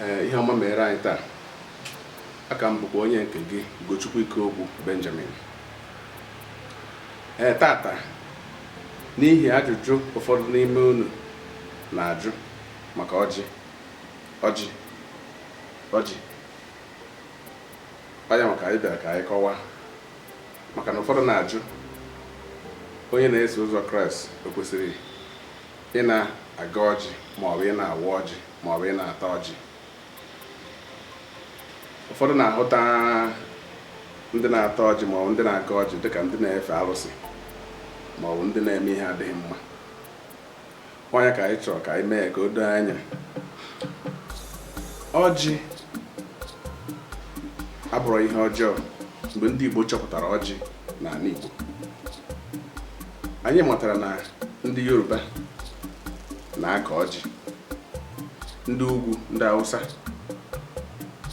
Ee, ihe ọma mere anyị taa. Aka m bụkwa onye nke gị Ugochukwu Ikeogwu Benjamin. Ee, tata n'ihi ajụjụ ụfọdụ n'ime unu na-ajụ maka ọjị ọjị ọjị ọ ya maka anyị bịara ka anyị kọwaa maka na ụfọdụ na-ajụ onye na-eso ụzọ kraịst o kwesịrị ị na-agọ ọjị ma ọ bụ ị na-awa ọjị ma ọ bụ ị na-ata ọjị ụfọdụ na-ahụta ndị na-ata ọjị ma ọ bụ ndị na-agọ ọjị dịka ndị na-efe arụsị ma ọ bụ ndị na-eme ihe adịghị mma ọ ya ka anyị chọrọ ka anyị mee ka o doo anya ọjị abụrọ ihe ọjọọ mgbe ndị Igbo chọpụtara ọjị n'ani Igbo anyị matara na ndị Yoruba na-akọ ọjị ndị ugwu ndị Awụsa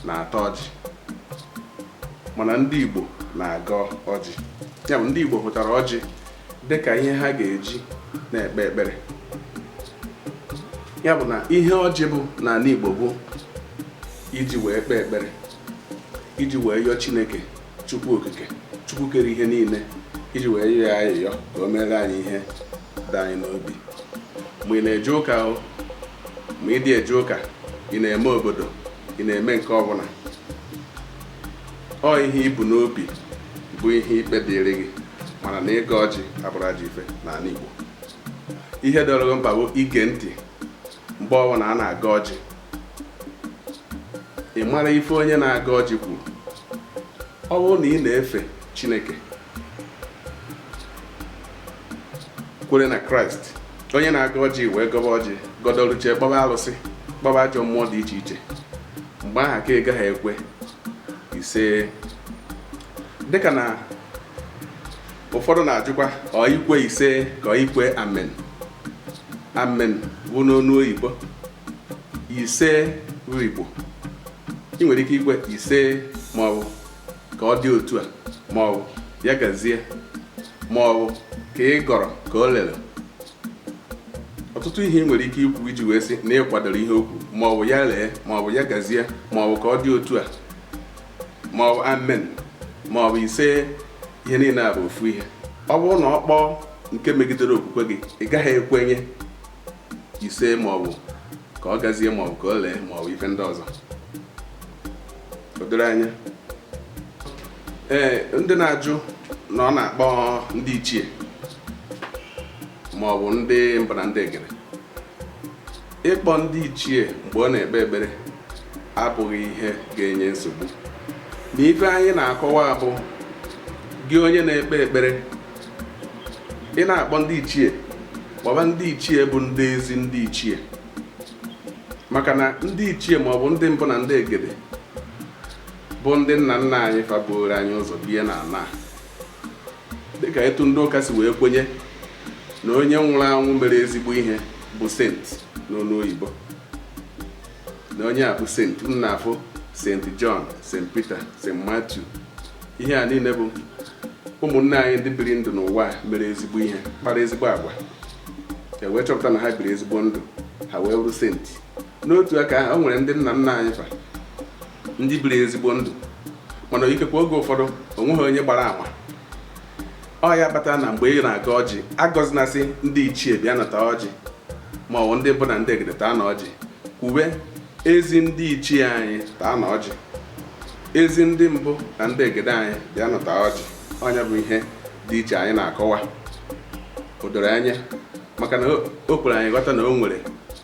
na-ata ọjị mana ndị Igbo na-agọ ọjị ya bụ ndị Igbo hụtara ọjị dị ka ihe ha ga-eji na-ekpe ekpere ya bụ na ihe ọjị bụ n'ani Igbo bụ iji wee kpee ekpere iji wee yọọ Chineke Chukwu okike Chukwu kere ihe niile iji wee yọọ ya ayịyọ ka o meere anyị ihe dị anyị n'obi ma ị na-eje ụka o ma ị dị eje ụka ị na-eme obodo ị na-eme nke ọbụna ọ ihe i bu n'obi bụ ihe ikpe dịrị gị mana na ịgọ ọjị abụrọ ajọ ife n'ani Igbo ihe dịrị gị mkpa bụ ige ntị mgbe ọbụna a na-agọ ọjị ị mara ife onye na-agọ ọjị kwuru ọ bụrụ na ị na-efe chineke kwere na Kraịst onye na-agọ ọjị wee gọba ọjị gọdọluchie kpọba alụsị kpọba ajọ mmụọ dị iche iche mgbe ahụ ka ị gaghị ekwe ise dịka na ụfọdụ na-ajụkwa ọ ikwe ise ka ọ ikwe amen amen bụ n'ọnụ oyibo ise bụ Igbo i nwere ike ikwe ise maọbụ ka ọ dị otu a maọbụ ya gazie maọbụ ka ị gọrọ ka o lere ọtụtụ ihe i nwere ike ikwu iji wee sị na ị kwadoro ihe o kwu maọbụ ya lee maọbụ ya gazie maọbụ ka ọ dị otu a maọbụ amen maọbụ ise ihe niile a bụ ofu ihe ọ bụrụ na ọ kpọọ nke megidere okwukwe gị ị gaghị ekwenye ise ma ọ bụ ka ọ gazie ma ọ bụ ka o lee ma ọ bụ ife ndị ọzọ o doro anya ee ndị na-ajụ na ọ na-akpọ ndị ichie ma ọ bụ ndị mbụ na ndị egede ịkpọ ndị ichie mgbe ọ na-ekpe ekpere abụghị ihe ga-enye nsogbu na ife anyị na-akọwa bụ gị onye na-ekpe ekpere ị na-akpọ ndị ichie kpọba ndị ichie bụ ndị ezi ndị ichie maka na ndị ichie ma ọ bụ ndị mbụ na ndị egede bụ ndị nna nna anyị fa buuru anyị ụzọ bie na ala dịka etu ndị ụka si wee kwenye na onye nwụrụ anwụ mere ezigbo ihe bụ saint n'olu oyibo na onye a bụ saint unu na-afụ saint john saint peter saint matthew ihe a niile bụ ụmụnne anyị ndị biri ndụ n'ụwa mere ezigbo ihe kpara ezigbo agwa e wee chọpụta na ha biri ezigbo ndụ ha wee bụrụ saint n'otu aka ahụ o nwere ndị nna nna anyị fa ndị biri ezigbo ndụ mana ikekwe oge ụfọdụ o nweghị onye gbara ama ọ ya kpatara na mgbe ị na-agọ ọjị agọzina sị ndị ichie bịanụ taa ọjị ma ọ bụ ndị mbụ na ndị egede taanụ ọjị kwuwe ezi ndị ichie anyị taanụ ọjị ezi ndị mbụ na ndị egede anyị bịanụ taa ọjị ọ nya bụ ihe dị iche anyị na-akọwa o doro anya maka na o kwere anyị ghọta na o nwere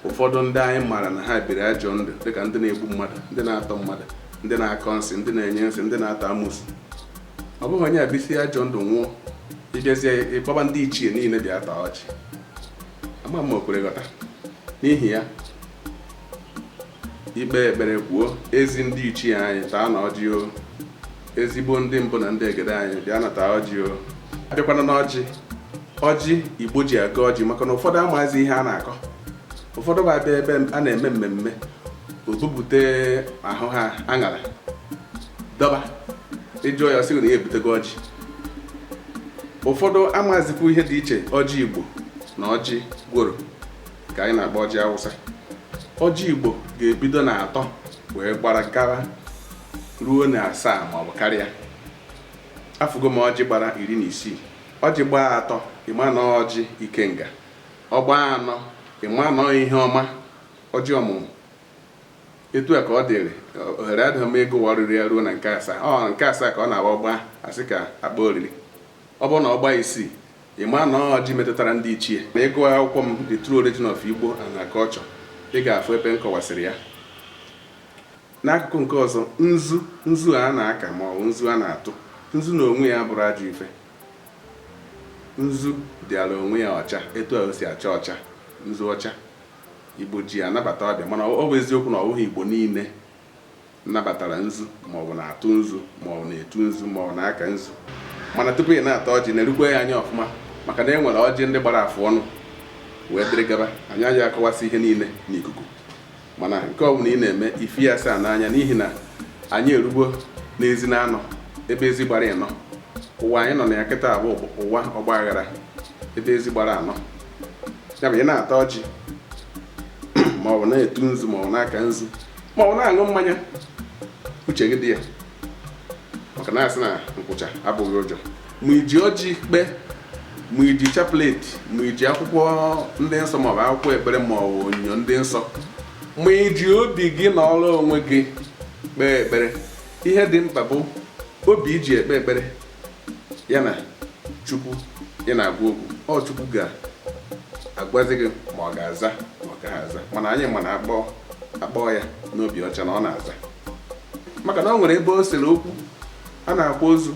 ụfọdụ ndị anyị maara na ha biri ajọ ndụ dịka ndị na-egbu mmadụ ndị na-atọ mmadụ ndị na-akọ nsị ndị na-enye nsị ndị na-ata amusu ọ bụrụ na onye a bisie ajọ ndụ nwụọ i jezie ị kpọba ndị ichie niile bịa taa ọjị ama m ma o kwere ghọta n'ihi ya i kpee ekpere kwuo ezi ndị ichie anyị taanụ ọjị o ezigbo ndị mbụ na ndị egede anyị bịanụ taa ọjị o a bịakwanụ n'ọjị ọjị igbo ji agọ ọjị maka na ụfọdụ amaghịzi ihe a na-akọ ụfọdụ bụ a bịa ebe a na-eme mmemme o bubute ahụha aṅara dọba ị jụọ ya sị na ya ebutego ọjị ụfọdụ amazikwu ihe dị iche ọjị igbo na ọjị gworo ka anyị na-akpọ ọjị awụsa ọjị igbo ga-ebido na atọ wee gbara gara ruo na asaa ma ọ bụ karịa afụgo m ọjị gbara iri na isii ọjị gbaa atọ ị ma na ọjị ikenga ọ gbaa anọ ị ma na ihe ọma ọjị ọmụmụ etu a ka ọ dịrị ohere adịghị m akọwarịrị ya ruo na nke asaa ọ nke asaa ka ọ na-abụ ọ gbaa a sị ka a kpọọ oriri ọ bụrụ na ọ gbaa isii Ị ma na ọjị metụtara ndị ichie? Ma ị gụọ akwụkwọ m The True Origin of Igbo and Her Culture, ị ga-afụ ebe m kọwasịrị ya. N'akụkụ nke ọzọ, nzu nzu a na-aka ma ọ bụ nzu a na-atụ nzu na onwe ya abụrọ ajọ ife nzu dịara onwe ya ọcha etu a o si acha ọcha nzu ọcha igbo ji anabata ọbịa mana ọ bụ eziokwu na ọ bụghị igbo niile nabatara nzu maọbụ na-atụ nzu maọbụ na-etu nzu maọbụ na-aka nzu mana tupu ị na-ata ọjị na-erukwa ya anya ọfụma maka na e nwere ọjị ndị gbara afụ ọnụ wee dịrị gaba anyị agaghị akọwasị ihe niile n'ikuku mana nke ọ bụla ị na-eme ife ya saa n'anya n'ihi na anyị erugo n'ezi na anọ ebe ezi gbara ịnọ ụwa anyị nọ na ya kịta a bụ ụwa ọgba aghara ebe ezi gbara anọ ya bụ ị na-ata ọjị maọbụ na-etu nzu maọbụ na-aka nzu maọbụ na-aṅụ mmanya uche gị dị ya maka na a sị na nkwụcha abụghị ụjọ ma i ji ọjị kpee ma i ji chapleti ma i ji akwụkwọ ndị nsọ maọbụ akwụkwọ ekpere ma ọ bụ onyinyo ndị nsọ ma i ji obi gị nọrọ onwe gị kpee ekpere ihe dị mkpa bụ obi i ji ekpe ekpere ya na chukwu ị na-agwa okwu ọ chukwu ga-agwazi gị ma ọ ga-aza ma ọ gaghị aza mana anyị ma na a kpọọ ya n'obi ọcha na ọ na-aza maka na ọ nwere ebe o sere okwu a na-akwa ozu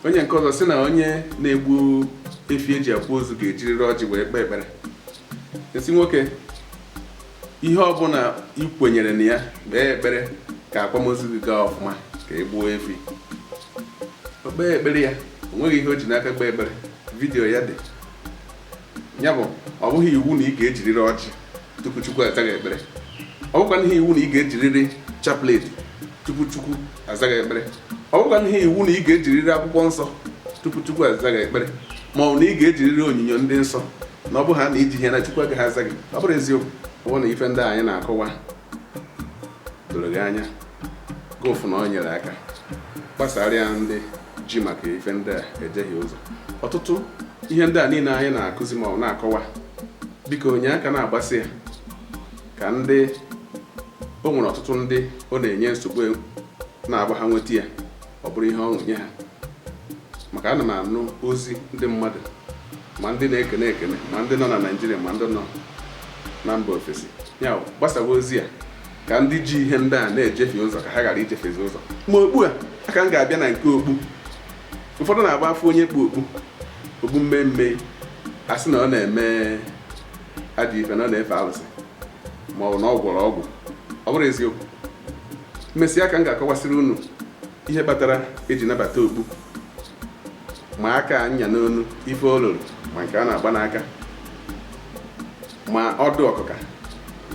onye nke ọzọ sị na onye na-egbu efi e ji akwa ozu ga-ejirịrị ọjị wee kpee ekpere m sị nwoke ihe ọbụla ị kwenyere na ya kpee ekpere ka akwamozu gị gaa ọfụma ka ị gbuo efi o kpee ekpere ya o nweghị ihe o ji n'aka kpee ekpere vidiyo ya dị ya bụ ọ bụghị iwu na ị ga-ejiriri ọjị tupu chukwu aza gị ekpere ọ bụkwaghị iwu na ị ga-ejiriri chaplet tupu chukwu aza gị ekpere ọ bụkwaghị iwu na ị ga-ejiriri akwụkwọ nsọ tupu Chukwu aza gị ekpere ma ọ bụ na ị ga-ejiriri onyinyo ndị nsọ na ọ bụ ha na i jighị ya na Chukwu agaghị aza gị ọ bụrọ eziokwu ọ bụrụ na ife ndị anyị na-akọwa doro gị anya gị afụ na ọ nyere aka gbasara ya ndị ji maka ife ndị a ejehie ụzọ ọtụtụ ihe ndị a niile anyị na-akụzi ma na-akọwa biko nye aka na-agbasa ya ka ndị o nwere ọtụtụ ndị ọ na-enye nsogbu na-abụ ha nweta ya ọ bụrụ ihe ọṅụ nye ha maka ana m anụ ozi ndị mmadụ ma ndị na-ekene ekene ma ndị nọ na naijiria ma ndị nọ na mba ofesi ya gbasawa ozi a ka ndị ji ihe ndị a na-ejefie ụzọ ka ha ghara ijefiezi ụzọ ma okpu a ka m ga-abịa na nke okpu ụfọdụ na-abụ a fụ onye kpu okpu okpu mmee mmee a sị na ọ na-eme ajọ ife na ọ na-efe alụsị ma ọ bụ na ọ gwọrọ ọgwụ ọ bụrọ eziokwu emesịa ka m ga-akọwasịrị unu ihe kpatara eji nabata okpu ma aka anya n'onu ife ọ lụlụ ma nke a na-agba n'aka ma ọdụ ọkụka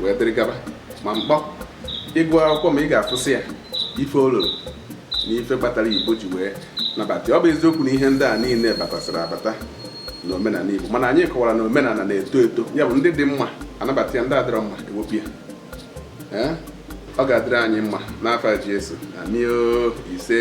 wee dịrị gaba ma mkpọ ị gụọ akwụkwọ m a ị ga-afụsị ya ife ọ lụlụ na ife kpatara igbo ji wee nabata ọ bụ eziokwu na ihe ndị a niile batasịrị abata na omenana Igbo mana anyị kọwara na omenana na-eto eto ya bụ ndị dị mma anabata ya ndị adịrọ mma ewepụ ya ọ ga-adịrị anyị mma n'afa Jesu amio ise